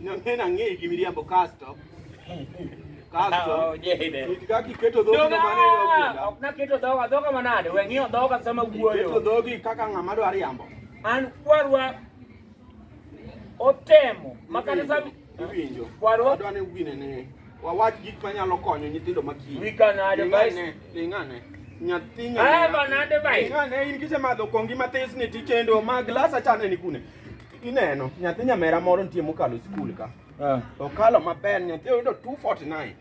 Nang'ena ng'eyi gi miriambo kasto kasto oh, itka kiketo dhogi no mane ogwenda. Ok naketo dhoga, dhoga manade? We ng'iyo dhoga sama wuoyo. Keto dhogi kaka ng'ama dwa riambo. An kwarwa otemo makata sami iwinjo. Kwarwa adwa ni wine ne wawach gik manyalo konyo nyithindo makiyi. We can advise. Lingane. Nyathi nyathi. Ah, banade bai. Lingane in kisemadho kongi mathis ni tikendo ma glasa chane ni kune. Ineno, nyathi nyamera moro nitie mokalo skul ka. Eh. Okalo maber, nyathi oyudo 249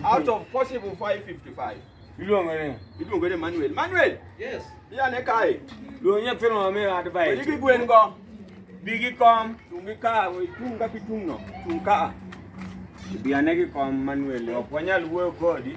out of possible 555. Iluongo ni? Iluongo ni Manuel. Manuel! Yes. Iya ne kae. Luongo nyathino mamiyo advice. Wedi gi gwen go. Bi gi kom. Tungi ka, itung' kaka itung' no. Tung' ka. Bi ane gi kom Manuel, ok wanyal wuoyo kodi.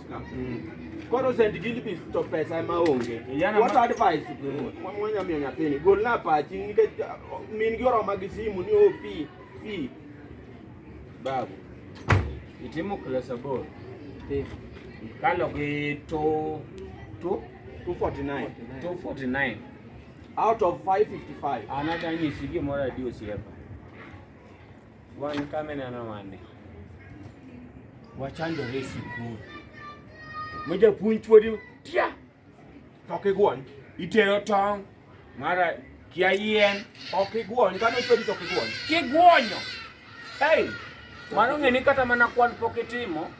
Koro St. Gilbis to pesa ma onge. What advice mwanya miyo nyathini? Gol na pachi nikech uh, min gi oroma gi simu ni ofi oh, fi. Babu. Itimo class aboro. Eh. Kalo gi to to 249. 249. Out of 555. Anadanyisi gimoro adi osiepa. Wan kame neno wane. Wachandore e sikul. Ma japuonj chuodi tia. Ok igwony. Itero tong' mara kia yien. Ok igwony. Kano chuodi to ok igwony. Kigwonyo. Hey, mano ng'eni kata mana kwan pok itimo.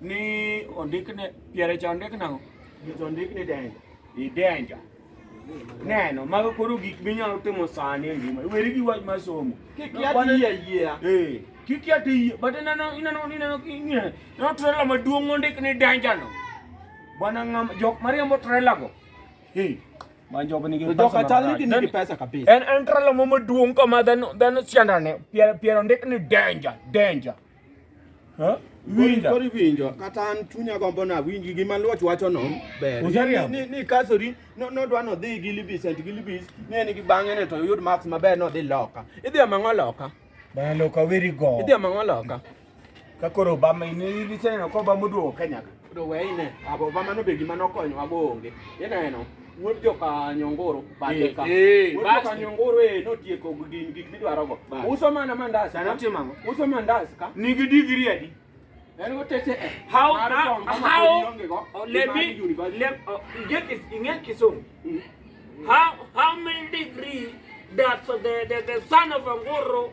Ni ondik ne piere cha ondik nang'o? Nyiso ondik ni danger. I danger. Neno, mago koro gik minyalo timo sani e ngima. Weri gi wach mar somo. Kik yati yie. Eh. Kik yati yie. But ineno ineno ineno ineno. No trailer maduong' ondik ni danger no. Bwana ngam jok mariambo trailer go. Hey. Manjob nigi pesa. Joka chal ni nigi pesa kabisa. En en trailer mo maduong' kama dhano dhano siandane. Piero piero ondik ni danger, danger. Winjo. Kori winjo kata an chunya gombo na winji gi maluoch wacho no ber. Ni ni kasori no no dwa no dhi gi libis and gi libis ni en gi bange ne to yud marks maber no dhi loka. Idhi amango loka. Bana loka weri go. Idhi amango loka. Kakoro Obama ini ni sene ko Obama oduogo Kenya. do weyne abo mano be gima nokonyowa go onge ineno wuod joka nyongoro bathe ka eh, eh, wuod joka nyongoro e notieko gin gik midwaro go uso mana mandas sani otimo ang'o uso mandas ka nigi digiri adi en go tete eh, how how oh, let me let oh, get is ing'e kisungu mm. how how many degree that the the, the son of angoro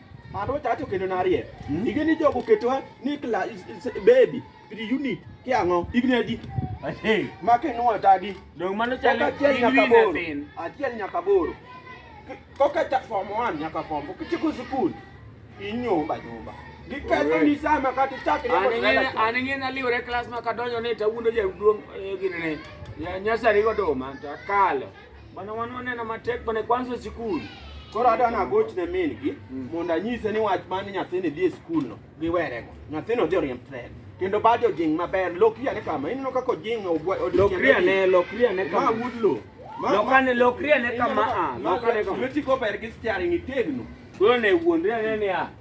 Mano chacho kendo narie. Hmm? Ige ni jogo ketwa ni kla baby, pretty unit ki ang'o? Igni adi? Hey, make no atadi. Dong mano chalo achiel nyaka boro. Achiel nyaka boro. Koka cha form 1 nyaka form 4 kichiko school. Inyomba nyomba. Giketho ni sama kati chak ne motela. An ng'en aliwre klas ma kadonjo ne tawundo jaduong' eh, gine ne. Nyasari godoma takalo. Bana wanone na matek bana kwanza sikul. Koro adwa na goch ne min gi mm. mondo anyise ni wach mane nyathini dhi e skul no giwerego. Nyathini odhi oriemb tren. Kendo bado jing maber lokri ane kama ineno kaka ojing lokri ane lokri ane kama wudlo. Lokane lokri ane kama a lokane kama. Metiko ber gi steering itegno. Koro ne wuondre ane ni a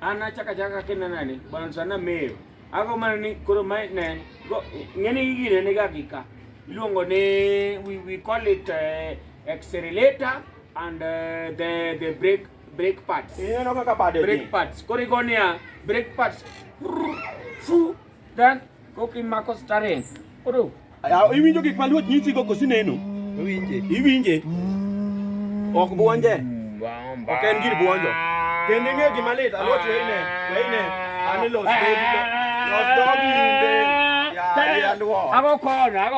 An achako achaka kaka inenani, Bwana Yesu anameyo. Ago mana ni koro ma ne, go- ng'eni gi gini niga gi ka. Iluongo ni, we, we call it eh, accelerator and eh, the, the brake, brake pads. Ineno kaka bade Brake ni. pads. Koro igo niya, brake pads. Fu, Dan koki mako stare. Koro. Ya iwinjo gik ma luot nyisi go kosi neno. Iwinje. Iwinje. Ok buonje. Ok en gir buonjo. Kendo ing'e gima lit alot weine. Weine. Ani los dog. Los dog inde. Ya ya luo. Ago kono.